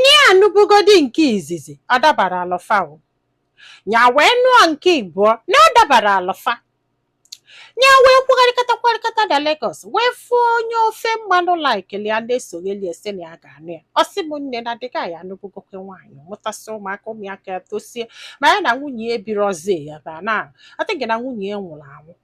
Nya anụbugodi nke izizi ọ dabarọlụ fa o. Nya wee nụọ nke ịbụọ na ọ dabarọlụ fa. Nya wee kwugharịkata kwugharịkata na Lagos wee fụọ onye ofe mmanụ likeli ya na-esoghali ya sị na ya ga-anụ ya. Ọ sị m nne na the guy a anụbugokwe nwaanyị mụtasị ụmụaka ụmụaka ya toosie ma ya na nwunye ya ebirọzi ya mana ọ dịghị na nwunye ya nwụlụ anwụ.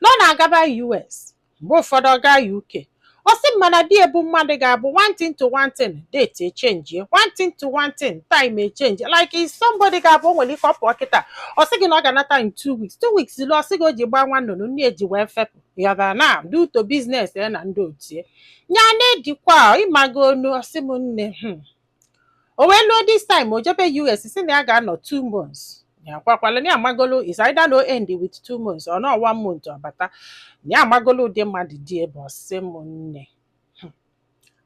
na ọ na-agaba US mgbe ụfọdụ ọ gaa UK ọ sị m mana di ya bụ mmadụ ga-abụ one thing to one thing date echenji one thing to one thing time echenji like is somebody ga-abụ o nwere ike ọ pụọ kịta ọ sị gị na ọ ga-anata in two weeks two weeks eluo ọ sị gị o ji gbaa nwa nnụnụ nne ya ji wee fepụ ya ga na due to business ya na ndị otie ya na-edikwa ị mago nu ọ sị m nne hmm, o wee luo this time o jebe US sị na ya ga-anọ two months ya kwakwala na ya amagolo is either no end with two months or ọ nọọ one month ọ bata na ya amagolo ụdị mmadụ di ya bụ ọ sị m nne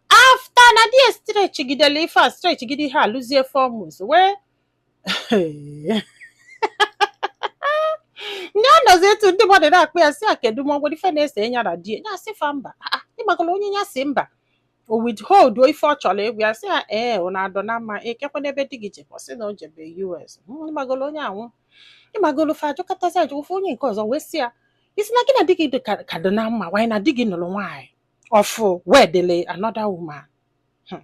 after na di ya stretchigidele ife a stretchigide ihe a luzie four months wee nya anọzi etu ndị mmadụ na-akpọ ya sị ya kedu ma o nwe ife na-ese ya na di ya sị fa mba "Ah, ah, ịgbakọrọ onye ya sị mba o withholduo ife ọ chọrọ ịgwa ya sị ya ee ọ na-adọ na mma kekwanụ ebe di gị jekwa sị na o jebe US "Mm, ịgbagoro onye anwụ ịgbagoro fa ajụkọtazi ajụkwa onye nke ọzọ wee sị ya ị sị na gị na di gị dị ka- ka dị na mma nwaanyị na di gị nụrụ nwaanyị ọfụụ wedele another woman Hmm.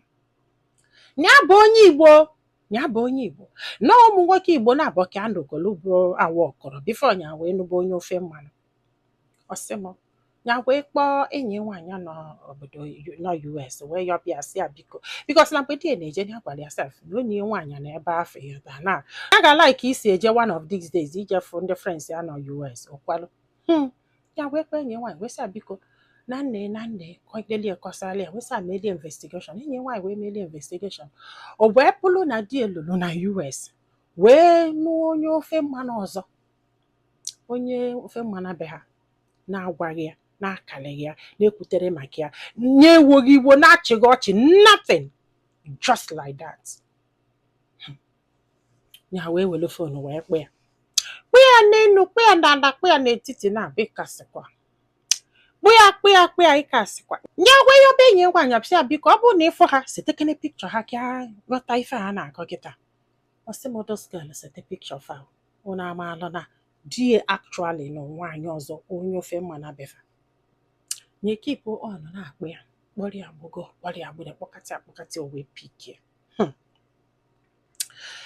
ya bụ onye Igbo ya bụ onye Igbo na ụmụ nwoke Igbo naabọ ka ya nụgolu but ọ workụrọ before nya wee nụba onye ofe mmanụ ọ sị m ya wee kpọọ enyi ya nwaanyị nọ obodo nọ US wee yọba ya sị ya biko because na mgbe di ya na-eje ya gwara ya sef na enyi ya nwaanyị nọ ebe afụ ya ta na ya ga like iso ya je one of these days ije fụ ndị friends ya nọ US o kwerọ hmm. ya wee kpọọ enyi ya nwaanyị wee sị ya biko na nne na nne kọdelie kọsara ya wee sị ya meelụ ya investigation enyi ya nwaanyị wee meelụ ya investigation o wee bụrụ na di ya lulu na US wee nụọ onye ofe mmanụ ọzọ onye ofe mmanụ be ha na-agwaghị ya na-akalịghị ya na-ekwuterọ maka ya na-ewoghị iwo na-achịghị ọchị nothing just like that. ya wee were phone wee kpọ ya kpọ ya n'elu kpọ ya n'ala kpọ ya n'etiti na abụ ịkasịkwa kpọ ya kpọ ya kpọ ya ịkasịkwa nya wee yọba enyi ya nwaanyị afụ sị ya biko ọ bụrụ na ị fụ ha setekene picture ha ka ghọta ife ha na-akọ kịta ọ sị m those girls sete picture fa unu amaala na di ya actually nụ nwaanyị ọzọ onye ofe mmanụ be fa nya keep on na-akpọ ya kpọrọ ya gbogo kpọrọ ya gbụrụ kpọkata ya kpọkata ya o wee pick ya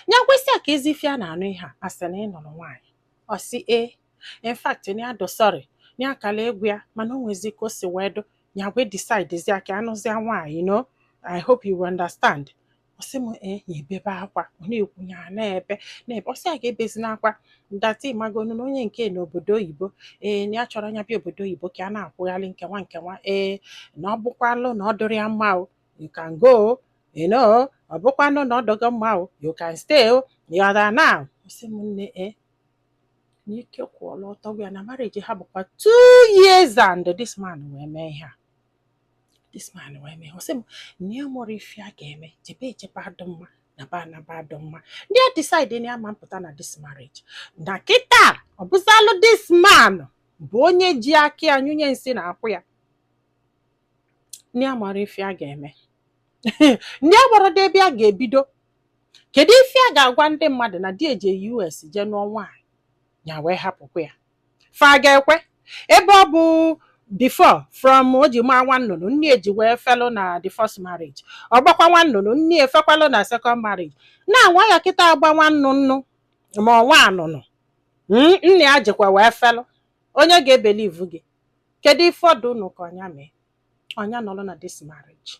nya gwasị ya ka ezi ife a na-anụ ihe a a sị na ị nụrụ nwaanyị ọ sị ee in fact na ya dụ sorry na ya kala agwa ya mana o nwezi ka o si wee dụ ya wee decidezia ka ya nụzia nwaanyị no I hope you understand ọ sị m ee ya ebebe akwa ọ na-ekwu ya na-ebe na-ebe ọ sị ya gị ebezina akwa that ị magonu na onye nke n'obodo oyibo ee na ya chọrọ nya bịa obodo oyibo ka a na-akwụgharị nkewa nkewa ee na ọ bụkwalụ na ọ dụrụ ya mma o you can go you know ọ bụkwanụ na ọ dọghọ mma o you can stay o you're there now ọ sị m nne e n'ike kwụọla ọtọ gwụ ya na marriage ha bụkwa two years and this man wee mee ihe a this man wee mee ọ sị m na ya amarọ ife ya ga-eme jebe ejebe adụ mma naba anaba adụ mma nya decide na ya ama apụta na this marriage na kịta ọ bụzalụ this man bụ onye ji aka ya nyụnye nsị n'akwụ ya nya amarọ ife ya ga-eme nya amarọ ebe ya ga-ebido kedu ife ya ga-agwa ndị mmadụ na di ya jee US jee nụọ nwaanyị ya wee hapụkwa ya fa ga-ekwe ebe ọ bụ before from o ji gbaa nwa nnụnụ nne ya ji wee felụ na the first marriage ọ gbakwa nwa nnụnụ nne ya efekwalụ na second marriage na nwa ya kịta agba nwa nnụnụ ma ọ nwa nnụnụ nne ya jikwa wee felụ onye ga-ebelivu gị Kedu ife ọ dị unu ka nya mee? Nya nọrọ na this marriage.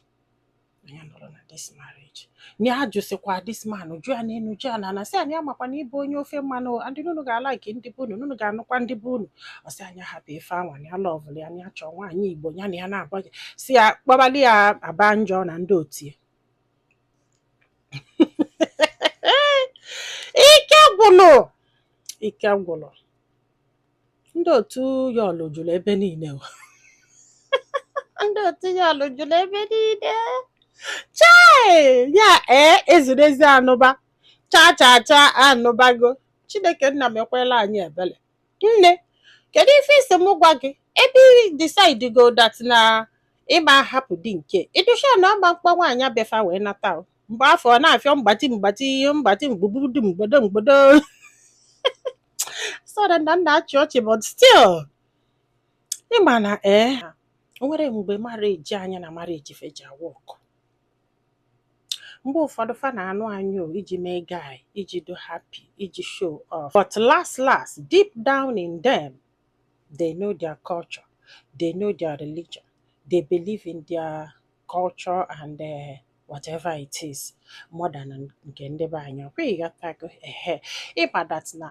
Nya nọrọ na this marriage. Nya ajụsịkwa this man, jụ ya n'enu, jụ ya n'ana, sị anyị amakwa na ị bụ onye ofe mmanụ, o, adị n'unu ga-alike ndị be unu, n'unu ga-anụkwa ndị be unu. Ọ sị ya nya hapụ ife anwa, na ya lọvụlụ ya, na ya chọọ nwaanyị Igbo, ya na ya na-abụ ya. Si ya kpọbalị ya aba njọ na ndị otu ya. Ike gwụlụ! Ike gwụlụ! Ndị otu Yul jụrụ ebe niile o. Ndị otu Yul jụrụ ebe niile. Chai! Ya ee ezurezi anụba. Cha cha cha anụbago. Chineke nna mekwaala anyị ebele. Nne, kedu ife ị sị m gwa gị? Ebe ị decidego that na ị ma ahapụ di nke. Ị dụ sure na ọ ma akpọ nwaanyị a bịa fa wee nata o. Mgbe afụ ọ na-afịọ mgbati mgbati mgbati mgbugbudum mgbodo mgbodo. sorry na m na-achị ọchị but still ị ma na ee eh, o nwere mgbe marriage anyị na marriage fa eji a work mgbe ụfọdụ fa na-anụ anyị iji mee guy iji do happy iji show off but last last deep down in them they know their culture they know their religion they believe in their culture and uh, whatever it is more than nke ndị be anyị ọkwa ịghọtago ehe ịma that na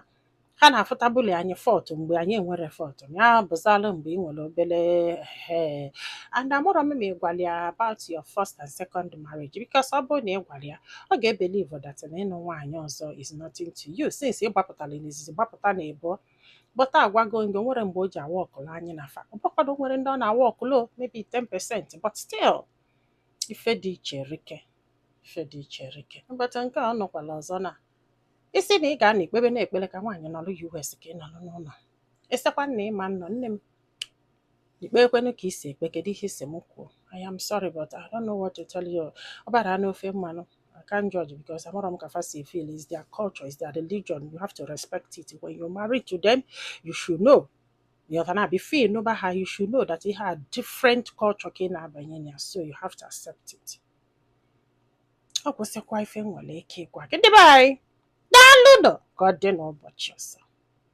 ha na-afụtabụli anyị fault mgbe anyị enwerọ fault ya bụzalụ mgbe ị nwere obere ehe and amarọ m ma ị gwara ya about your first and second marriage because ọ bụrụ na ị gwara ya ọ ga-ebelieve that na ịnụ nwaanyị ọzọ is nothing to you since ị gbapụtara n'izizi gbapụta na ịbụọ but agwago m gị o nwere mgbe o ji aworkụlụ anyị na fa ọbụkwado nwere ndị ọ na-aworkụlụ maybe 10% but still ife dị iche erika ife dị iche erika but nke a ọ nụkwara ọzọ na ị sị na ị ga-anọ ikpebe na-ekpere ka nwaanyị nọrọ US ka ị nọrọ n'ụlọ esekwana ịma nnọ nne m ị kpekwenụ ka ị si ekpe kedu ihe ị sị m kwuo I am sorry but I don't know what to tell you ọ bara n'ofe mmanụ I can't judge because amarọ m ka fa si feel is their culture is their religion you have to respect it when you marry to them you should know you have na before ị nụba ha you should know that you have different culture ka ị na-abanye na ya so you have to accept it ọ gwụsịkwa ife m nwere ike ịgwa gị ndị be anyị daalụnụ ka ọ dị n'ụbọchị ọzọ